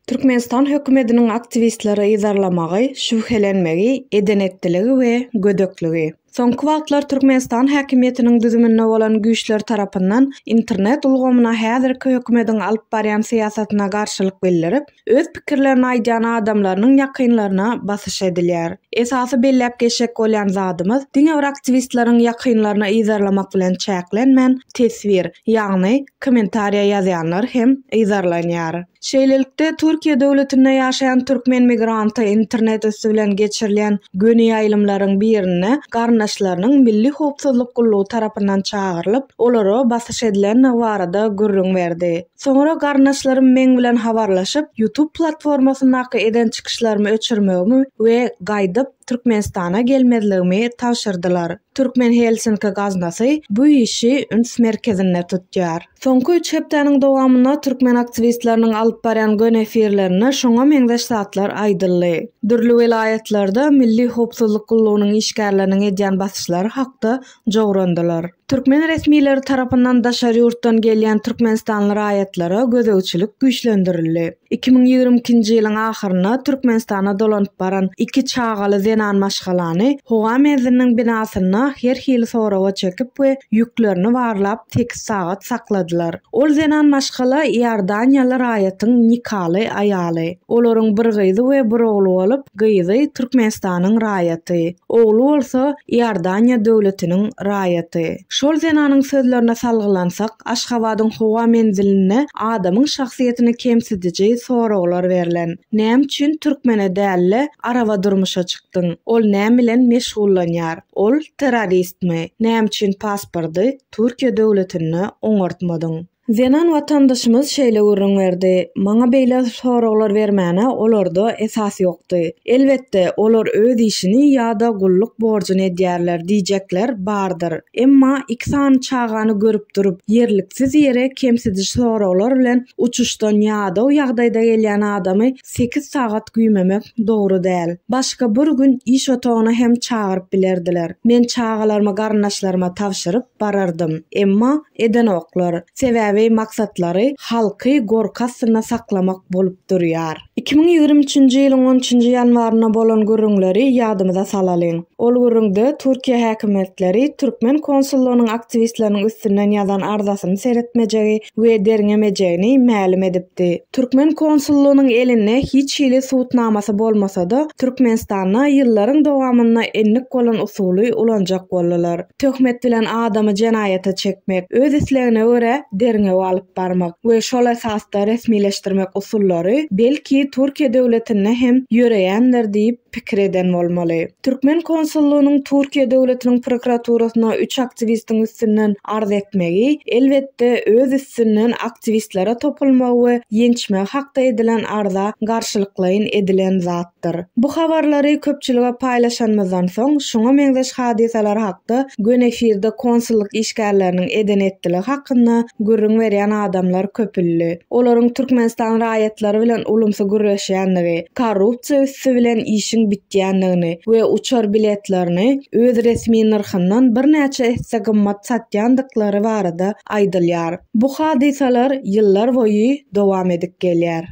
Türkmenistan hökümediniň aktiwistleri yzarlamagy, şübhelenmegi, edenetdiligi we gödekligi. Soňky wagtlar Türkmenistan häkimiýetiniň düzüminde bolan güýçler tarapyndan internet ulgamyna häzirki hökümediň alyp barýan syýasatyna garşylyk bildirip, öz pikirlerini aýdýan adamlarynyň ýakynlaryna basyş edilýär. Esasy belläp geçjek bolýan zadymyz, diňe bir aktiwistleriň ýakynlaryna yzarlamak bilen çäklenmän, teswir, ýagny kommentariýa ýazýanlar hem yzarlanýar. Şeýlelikde, Türkiýe döwletinde ýaşaýan türkmen migranty internet üsti bilen geçirilýän göni ýaýlymlaryň birinde garyndaşlarynyň Milli howpsuzlyk gullugy tarapyndan çagyrylyp, olara basyş edilendigi barada gürrüň berdi. Soňra garyndaşlarym meň bilen habarlaşyp, YouTube platformasyndaky eden çykyşlarymy öçürmegimi we gaýdyp Türkmenistana gelmezligimi tabşyrdylar. Türkmen Helsinki gaznasy bu işi üns merkezinde tutýar. Soňky üç hepdäniň dowamynda türkmen aktiwistleriniň alyp barýan gön efirlerinde şoňa meňzeş zatlar aýdyldy. Dürli welaýatlarda Milli howpsuzlyk gullugynyň işgärleriniň edýän basyşlary hakda jograndylar. Türkmen resmileri tarapyndan daşary ýurtdan gelýän türkmenistanly raýatlara gözegçilik güýçlendirildi. Iki müň ýigrimi ikinji ýylyň ahyrynda Türkmenistana dolanyp baran iki çagaly zenan maşgalany howa menziliniň binasynda her hili soraga çekip we ýüklerini barlap sekiz sagat sakladylar. Ol zenan maşgala iordaniýaly raýatyň nikaly aýaly. Olaryň bir gyzy we bir ogly bolup, gyzy Türkmenistanyň raýaty. Ogly bolsa Iordaniýa döwletiniň raýaty. Şol zenanyň sözlerine salgylansak, Aşgabadyň howa menzilinde adamyň şahsyýetini kemsidiji soraglar berlen. Näme üçin türkmene däl-de, araba durmuşa çykdyň? Ol näme bilen meşgullanýar? Ol terroristmi? Näme üçin paspordy Türkiýe döwletinde oňartmadyň? Zenan watandaşymyz şeýle gürrüň berdi, Maňa beýle soraglar bermäne olarda esas ýokdy. Elbetde, olar öz işini ýa-da gulluk borjuny edýärler diýjekler bardyr. Emma iki sany çagany görüp durup, ýerliksiz ýere kemsidiş soraglar bilen uçuşdan ýadaw ýagdaýda gelýän adamy sekiz sagat güýmemek dogry däl. Başga bir gün iş otagyna hem çagyryp bilerdiler. Men çagalarymy garyndaşlaryma tabşyryp barardym. Emma edenoklar. Sebäbi maksatlary halky gorky astynda saklamak bolup durýar. Iki müň ýigrimi üçünji ýylyň on üçünji ýanwarynda bolan gürrüňleri ýadymyza salalyň. Ol gürrüňde Türkiýe häkimiýetleri türkmen konsullygynyň aktiwistleriniň üstünden ýazan arzasyny seretmejegi, we derňemejegini mälim edipdi. Türkmen konsullygynyň elinde hiç hili subutnamasy bolmasa-da, Türkmenistanda ýyllaryň dowamynda endik bolan usuly ulanjak boldular. Töhmet bilen adamy jenaýata çekmek, öz islegine görä derňew alyp barmak we şol esasda resmileşdirmek usullary, belki, Türkiýe döwletinde hem ýöreýändir diýip, pikir eden bolmaly. Türkmen konsullygynyň Türkiýe döwletiniň prokuraturasyna üç aktiwistiň üstünden arz etmegi, elbetde, öz üstünden aktiwistlere topulmagy we ýençmegi hakda edilen arza garşylyklaýyn edilen zatdyr. Bu habarlary köpçülige paýlaşanymyzdan soň, şuňa meňzeş hadysalar hakda göni efirde konsullyk işgärleriniň eden-etdiligi hakynda gürrüň berýän adamlar köpüldi. olaryň Türkmenistan raýatlary bilen ulumsy gürleşýändigi, korrupsiýa üsti bilen işiň bitýändigini we uçar biletlerini öz resmi nyrhyndan birnäçe esse gymmat satýandyklary barada aýdylýar. Bu hadysalar ýyllar boýy dowam edip gelýär.